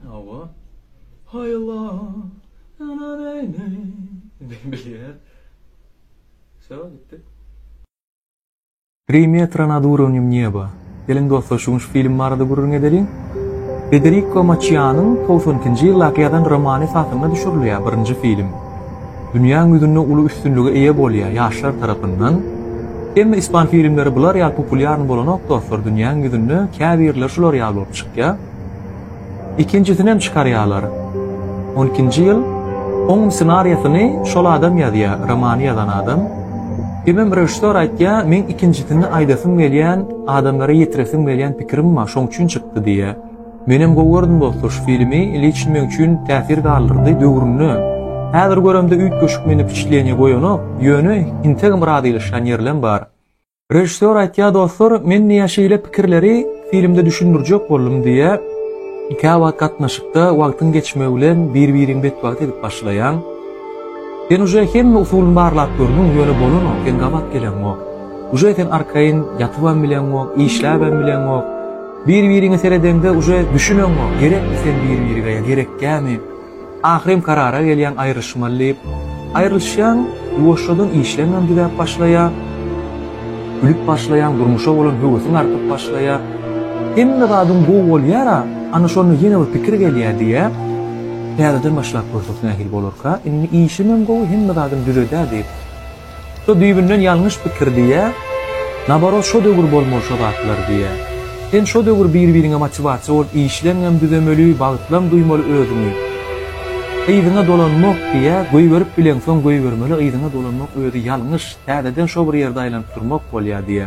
Hawa. Hay Allah, ana näme? Diýip bilýär. Şo gitdi. Tri metra nad urovnýem neba. Geliň dostlar şu gün şu film barada gürrüň edeliň. Federiko Maçianyň togsan ikinji ýyldaky ýazan romany esasynda düşürilýär birinji film. Dünýäň ýüzünde uly üstünlige eýe bolýar ýaşlar tarapyndan. Emma ispan filmleri bular ýaly populýarny bolanok dostlar dünýäň ýüzünde käbirleri şular ýaly bolup çykýa. Ikinjisinem çykarýalar. On ikinji ýyl oňum ssenariýasyny şol adam ýazýa romany ýazan adam. Emem režissýor aýtýa meň ikinjisini aýdasym gelýän adamlara ýetiresim gelýän pikirim bar şoň üçin çykdy diýýa. Menem gowy gördüm dostlar şu filmi liçn meň üçin täsir galdyrdy döwründe häzir göremde üýtgeşik meni wpiçitleniýa goýanok ýöne integem razylaşýan ýerlem bar. Režissýor aýtýa dostlar men diýýä şeýle pikirleri filmde düşündirjek boldum diýýä kä wagt gatnaşykda wagtyň geçmegi bilen bir biriň betbagt edip başlaýaň sen uje hemme usulyny barlap gördüň ýöne bolanok sen gabat geleňok uje sen arkaýyn ýatybam bileňok işläbem bileňok Bir biriňe seredeňde uje düşüneňňo gerekmi sen bir birige ya gerekgämi ahyrem karara gelýäň aýryşmaly diýip aýrylyşýaň ýuwaşjadan işleňňem düzäp başlaýa gülüp başlaýaň durmuşa bolan höwesiň artyp başlaýa hemme zadyň gowy bolýara ana şonda ýene bir pikir gelýä diýä täzeden başlap görseň nähili bolarka indi işimem gowy hemme zadym düzedä diýip. Şu düýbünden ýalňyş pikir diýýä. Naborot şo döwür bolmaly şo zatlar diýýä. Sen şo döwür bir-biriňe motiwasiýa bolup işleňem düzemeli, bagtlam duýmaly özüňi. Yzyňa dolanmak diýýä, goýberip bileňsoň goýbermeli yzyňa dolanmak özi ýalňyş, täzeden şo bir ýerde aýlanyp durmak bolýa diýýä.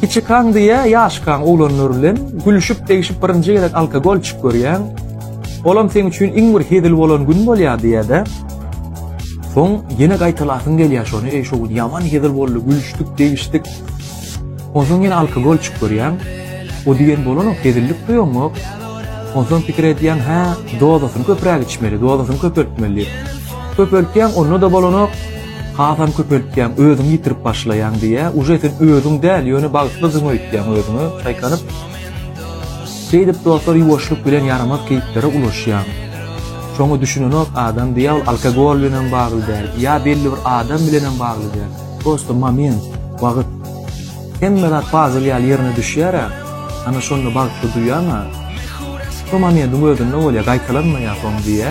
Kiçikaň diýä ýaşkaň oglanlar bilen gülüşip degişip birinji gezek alkogol içip görýäň. Olam seň üçin iň bir hezil bolan gün bolýar diýädä. Soň ýene gaýtalasyň gelýär şony, eý şo gün ýaman hezil boldy, gülüşdik, degişdik. Onsoň ýene alkogol içip görýäň. O diýen bolanok, hezillik duýaňok. Onsoň pikir edýäň, hä, dozasyny köpräk içmeli, dozasyny köpeltmeli diýip. Köpeltýäň, onda-da bolanok. Hasam köpeltýäň, özüňi ýitirip başlaýaň diýýä. Uje sen özüň däl, ýöne bagtlydyň öýtýäň özüňe çaýkanyp. Şeýdip dostlar ýuwaşlyk bilen ýaramaz keýplere ulaşýaň. Şoňa düşünenok adam diýýä ol alkogol bilen hem bagly däl, ýa belli bir adam bilen hem bagly däl. Prosta moment, wagt. Hemme zat pazyl ýaly ýerine düşýär-ä. Ana şonda bagtly duýýaň-a. Şo momentiň özünde bolýar, gaýtalanmaýar soň diýýä.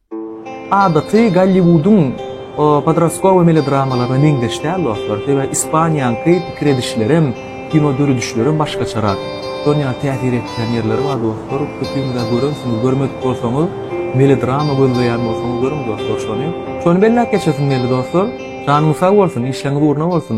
Adaty Golliwudyň podrastkowy melodramalaryna meňzeş däl dostlar, sebäbi Ispaniýanyňky pikir edişlerem, kino döredişlerem başgaçarak. Şol ýaly täsir etýän ýerleri bar dostlar, köpüňizä görensiňiz, görmedik bolsaňyz, melodrama gözleýän bolsaňyz görüň dostlar şony. Şony belläp geçesim geldi dostlar. Janyňyz sag bolsun, işleňiz ugruna bolsun.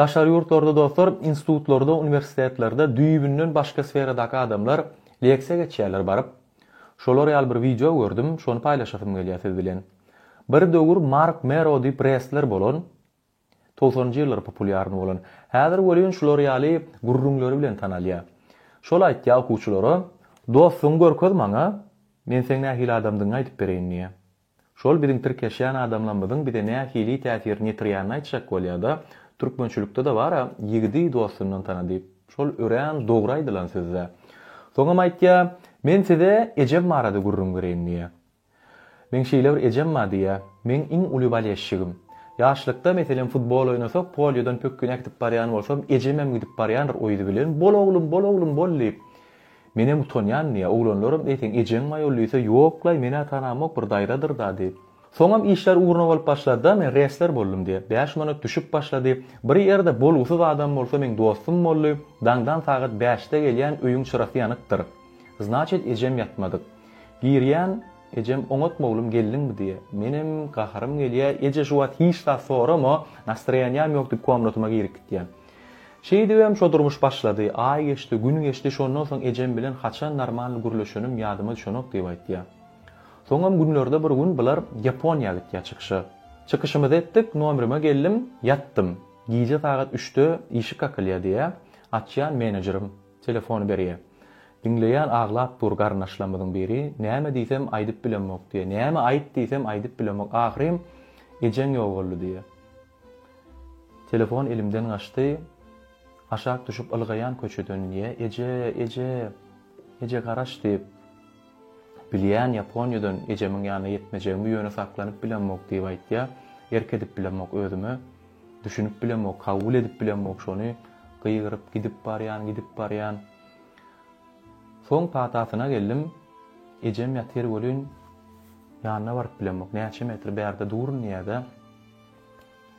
Daşary ýurtlarda dostlar, institutlarda, uniwersitetlerde düýbünden başga sferadaky adamlar leksiýa geçýärler baryp. Şolar ýaly bir wideo gördüm, şony paýlaşasym gelýär siz bilen. Bir döwür Mark Mero diýip restler bolan, togsanynjy ýyllar populýarny bolan. Häzir welin şular ýaly gürrüňleri bilen tanalýar. Şol aýtýar okuwçylara, Dostuňy görkez maňa, men seň nähili adamdygyňy aýdyp bereýin diýýär. Şol biziň tirkeşýän adamlarymyzyň bize nähili täsirini ýetirýänini aýtjak bolýada, türkmençilikde-de bar-a, Ýigidi dostundan tana diýip. Şol örän dogry aýdylan söz-dä. Soňam aýtýa, Men size ejem barada gürrüň bereýin diýýä. Meň şeýle bir ejem bar diýýä, Meň iň uly balesçigim. Ýaşlykda, meselem, futbol oýnasak, polýodan pökgini äkidip barýan bolsam, ejemem gidip barýandyr o ýüzi bilen, Bol oglum, bol oglum, bol diýip. Menem utanýan diýýä, oglanlaram eýseň ejeň maýol diýse ýoklaý meni atanamok bir daýzadyrda diýip. Soňam işler ugruna bolup başlady-da men resler boldum diýip, bäş manat düşüp başlady, bir ýerde bolgusyz adam bolsa meň dostum boldy, daňdan sagat bäşde gelýän öýüň çyrasy ýanykdyr. Znaçit ejem ýatmadyk. Girýän, ejem oňatma oglum geldiňmi diýýä. Menem gaharym gelýä, eje şu wagt hiç zat sorama, nastroýanýam ýok diýip komnatyma girip gitýän. Şeýdibem şo durmuş başlady. Aý geçdi, gün geçdi, şondan soň ejem bilen haçan normalny gürleşenim ýadyma düşenok diýip aýtýar. Soňam günlerde bir gün bular Ýaponiýa gitýär çykyşa. Çykyşymyzy etdik, nomerime geldim, ýatdym. Gije sagat üçde işik kakylýar diýýär. Açýan menejerim. Telefony berýär. Diňleýän aglap dur garyndaşlarymyzyň biri. Näme diýsem aýdyp bilemok diýýär. Näme aýt diýsem aýdyp bilemok. Ahyrym ejeň ýogaldy diýýär. Telefon elimden gaçdy. Aşak düşüp ylgaýan köçeden ýe Eje, eje, eje garaş diýip. Bilýän Ýaponiýadan ejemiň ýanyna ýetmejegimi ýöne saklanyp bilemok diýip aýtýa. Erk edip bilemok özüme. Düşünip bilemok, kabul edip bilemok şony. Gygyryp gidip barýan, gidip barýan. Soň patasyna geldim. Ejem ýatyr welin ýanyna baryp bilemok. Näçe metr bärde durun diýýä-dä.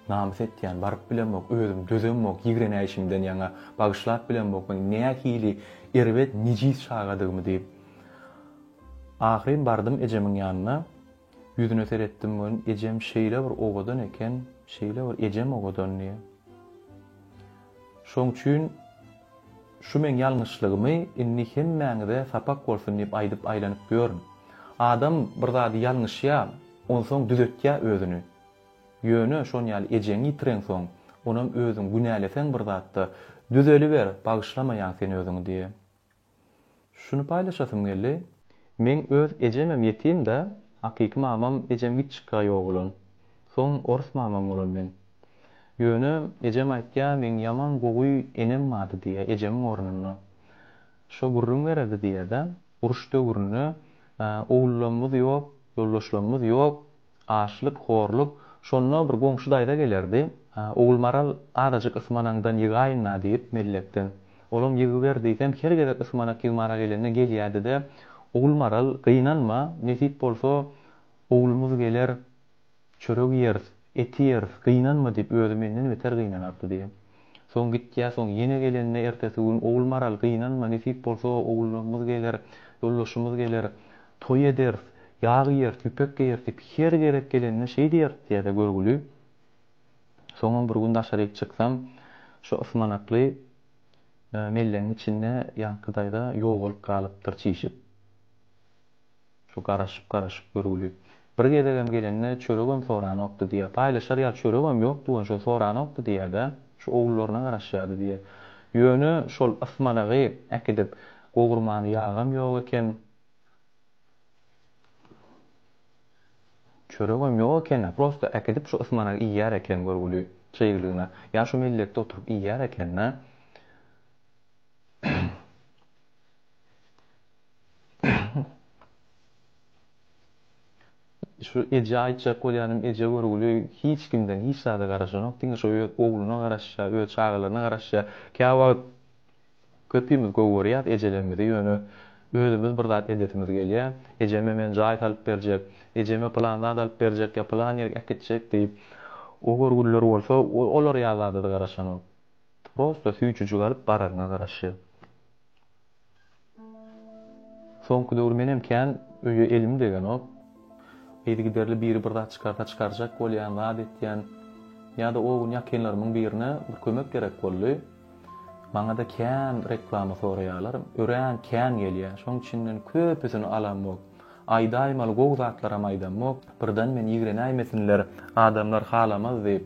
Namys etýän, baryp bilemok, özüm dözemok, ýigrenäýşimden ýaňa bagyşlap bilemok men nähili erbet, nejis çagadygymy diýip. Ahyryn bardym ejemiň ýanyna. Ýüzüne seretdim men, ejem şeýle bir owadan eken, şeýle bir ejem owadandy. Şoň üçin. Şu meň ýalňyşlygymy indi hemmäňize sapak bolsun diýip aýdyp aýlanyp ýörün. Adam bir zady ýalňyşýa, onsoň düzetýä özüni. Ýöne şon ýaly ejeňi ýitireňsoň, onam özüň günäleseň bir zatda, düzeliber, bagyşlamaýaň sen özüňi diýýä. Şuny paýlaşasym geldi. Meň öz ejemem ýetim da, hakyky mamam ejem gitçika ýok bolan. Soň orus mamam bolan men. Ýöne ejem aýtýar meň ýaman gowy enem bardy diýýär ejemiň ornuna. Şo gürrüň bererdi diýýär-de, uruş döwründe owullarymyz ýok, ýoldaşlarymyz ýok, Açlyk, horluk. Şonda bir goňşy daýza gelerdi. Ogulmaral, azajyk ysmanaňdan ýygaýyn-la diýip, mellekden. Olam ýygyber diýsem, her gezek ysmanak ýygmara gelende gelýärdi-de, Ogulmaral, gynanma, nesip bolsa, oglumyz geler, çörek iýeris, et iýeris, gynanma diýip, özi menden beter gynanardy diýip. Soň gitýär, soň ýene gelende ertesi gün, Ogulmaral, gynanma, nesip bolsa, ogullarymyz geler, ýoldaşymyz geler, toý ederis, ýag iýeris, ýüpek geýeris diýip, her gezek gelende şeý diýeris, diýýär-de görgüli. Soňam bir gün daşaryk çyksam, şu ysmanakly mellegiň içinde ýaňky daýza ýogalyp galypdyr çişip. Şu garaşyp-garaşyp görgüli. Bir gezegem gelende çöregem soranokdy diýýär. Paýlaşar ýaly çöregem ýokdy welin şol soranokdy diýýär-dä. Şu ogullaryna garaşýardy diýýär. Ýöne şol ysmanagy äkidip gowurmany ýagam ýok eken. Çöregem ýok eken-ä. Prosta äkidip şu ysmanagy iýýär eken görgüli. Çyglygyna. Ýa şu mellekde oturyp iýýär eken-dä. Şu ejä aýtjak bolýanym, eje görgüli, hiç kimden hiç zada garaşanok, diňe şu öz ogluna garaşýar, öz çagalaryna garaşýar. Käwagt köpimiz gowy görýäris ejelerimizi, ýöne özümiz bir zat edesimiz gelýär. Ejeme men jaý salyp berjek, ejeme pylan zat alyp berjek ýa pylan ýere äkitjek diýip. O görgüliler bolsa olar ýaly zada-da garaşanok. Prosta süýjüjik alyp bararyna garaşýar. Soňky döwür menem kän öýe elim degenok. Yzygiderli biri bir zat çykarsa çykarjak bolýan, zat etýän. Ýa-da o gün ýakynlarymyň birine bir kömek gerek boldy. Maňa-da kän reklama soraýarlar. Örän kän gelýär. Şoň içinden köpüsini alamok. Aýdaýmaly gowy zatlaram aýdamok. Birden men ýigrenäýmesinler, adamlar halamaz diýip.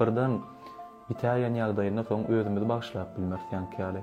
Birden bitäýen ýagdaýynda soň özümizi bagyşlap bilmeris ýaňky ýaly.